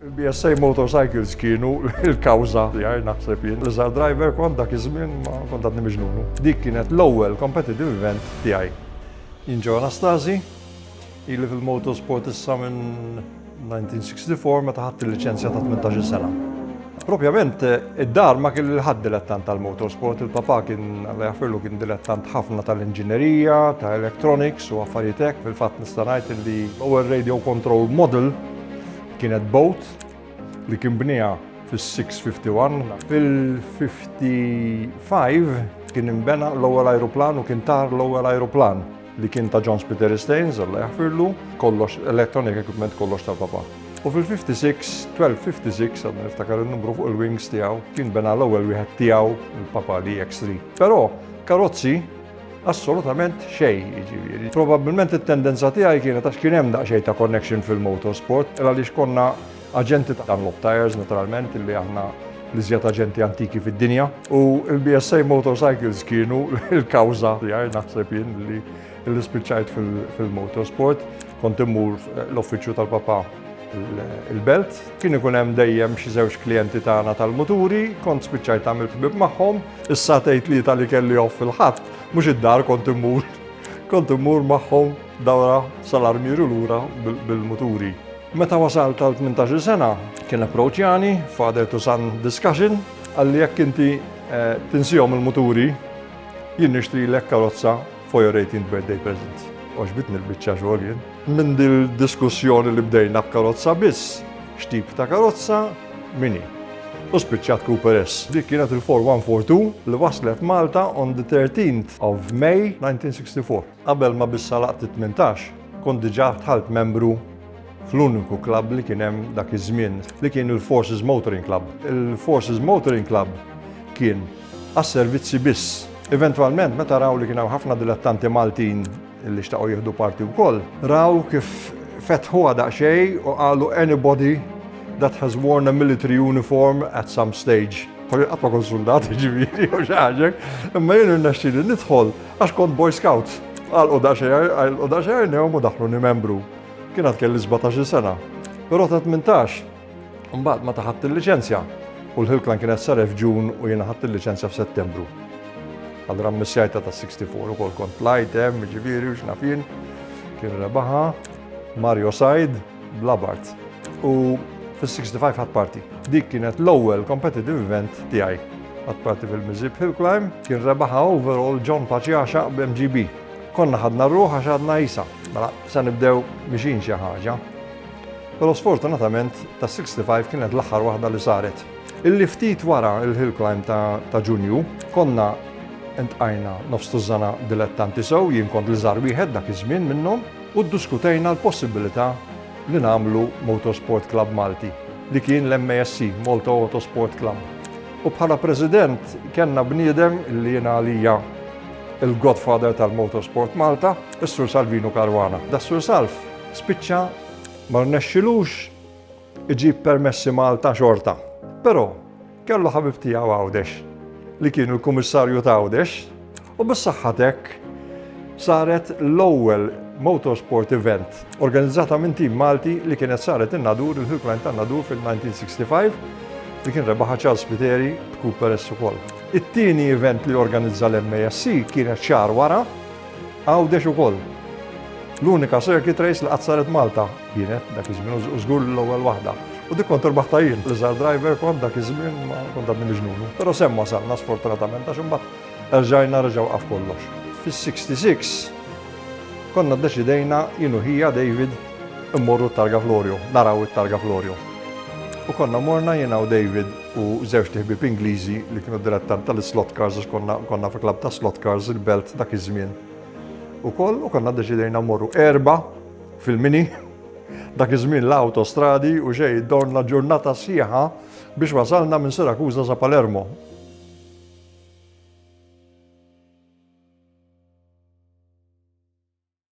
BSA Motorcycles kienu l-kawża tiegħi naħseb jien. L-iżgħar driver kont dak iż-żmien ma kont għadni miġnunu. Dik kienet l-ewwel competitive event tiegħi. Jien ġew Anastasi, ili fil-motorsport issa minn 1964 meta ħadt il-liċenzja ta' 18-il sena. Propjament id-dar ma kien lil ħadd dilettant tal-motorsport, il-papà kien Alla jaħfirlu kien dilettant ħafna tal-inġinerija, ta' electronics u affarijiet hekk, fil-fatt nista' ngħid li l-ewwel radio control model Kienet boat li kien bniha fis-651. Fil-55 kien imbena l-ewwel ajruplan u kien tar l-ewwel ajruplan li kien ta' John Peter Staines, Alla jaħfirlu, kollox electronic equipment kollox ta' papa. U fil-56, 1256, għadna niftakar il-numru fuq il-wings tiegħu, kien bena l-ewwel wieħed tiegħu il-papa li X3. Però karozzi Assolutament xejn, jiġifieri. Probabbilment it-tendenza tiegħi kienet għax kien hemm daqsxejn ta' connection fil-motorsport, għaliex konna aġenti ta' Dunlop Tires naturalment illi aħna l-iżjed aġenti antiki fid-dinja u l-BSA Motorcycles kienu l-kawża tiegħi naħseb jien li spiċċajt fil-motorsport kont immur l-uffiċċju tal-papa il-belt. Kien ikun hemm dejjem xi żewġ klijenti tagħna tal-muturi, kont spiċċajt tagħmel ħbieb magħhom. Issa tgħid li tal-li kelli off fil-ħadd, mhux id-dar kont immur. Kont immur magħhom dawra sal-armieru lura bil-muturi. Meta wasal tal-18 sena, kien approċjani father to son discussion, għalli jekk inti eh, tinsihom il-muturi, jien nixtri l karozza For your 18th birthday present. Oġbitni l-bicċa xogħol jien. Minn dil-diskussjoni li bdejna b'karozza biss, x'tip ta' karozza, mini. U spiċċat Cooper S. Dik kienet il-4142 li waslet Malta on the 13th of May 1964. Qabel ma bissa laqt 18, kont diġà tħalt membru fl-uniku klab li kien hemm dak iż-żmien li kien il-Forces Motoring Club. Il-Forces Motoring Club kien għas-servizzi biss. Eventwalment, meta raw li kien hawn ħafna dilettanti Maltin li xtaqgħu jieħdu parti wkoll, raw kif fetħuha daqsxejn u qalu anybody that has worn a military uniform at some stage. Pari għatma kon soldat, ġiviri, u xaġek, imma jenu n-naxxili nidħol, għax kont boy scout. Għal u daċer, għal u daċer, neħom u daħlu ni membru. Kien għat kelli 17 sena, pero ta' 18. Imbagħad meta ħadt il-liċenzja u l-ħilklan kienet sar f'Ġun u jiena ħadd il-liċenzja f'Settembru. Għal rammissjajta ta' 64 ukoll kont plajt hemm, ġifieri u x'nafin, kien rebaħa Mario Said bl-Abart. U fis-65 ħadd parti. Dik kienet l-ewwel competitive event tiegħi. Ħadd parti fil-Mizib Hill Climb kien rebaħa overall John Paċjaxa b'MGB. Konna ħadna ruħ għax għadna jisa. Mela, se nibdew mixin xi ħaġa. Però sfortunatament tas-65 kienet l-aħħar waħda li saret. Illi ftit wara l-hill climb ta' Ġunju konna intqajna nofs tużżana dilettanti sew, jien kont li żar wieħed dak iż-żmien minnhom, u ddiskutejna l-possibilità li nagħmlu Motorsport Club Malti, li kien l-MASC, Malta Autosport Club. U bħala president kellna bniedem li jiena għalija il-godfather tal-Motorsport Malta, is-Sur Salvino Caruana. Da Sur Salv Spiċċa ma rnexxilux iġib permessi Malta xorta. Però kellu ħabib tiegħu Għawdex li kienu l-Kummissarju ta' Għawdex u bis-saħħatek saret l-ewwel motorsport event organizzata minn tim Malti li kienet saret in-nadur il-Hilkline tan-nadur fil-1965 li kien rebaħa Charles Piteri b'Cooper S ukoll. It-tieni event li organizza l-MASC kienet xar wara Għawdex ukoll. L-unika circuit race li qatt saret Malta kienet dak iż-żmien u żgur li l-ewwel waħda. U dik kont irbaħtha jien, l-iżgħar driver kont dak iż-żmien ma kont għadni miġnunu. Però s'hemm wasalna sfortunatament għax imbagħad erġajna reġa' waqaf kollox. Fis-66 konna ddeċidejna jien u ħija David immorru t-targa Florio, naraw it-targa Florio. U konna morna jiena u David u żewġt iħbieb Ingliżi li kienu dilettanti tal-slot cars għax konna konna fi klabb ta' slot cars il-Belt dak iż-żmien. Ukoll u konna ddeċidejna mmorru erba' fil-mini dak iż-żmien la awtostradi u xejn dorna ġurnata sħiħa biex wasalna minn Sirakuża sa Palermo.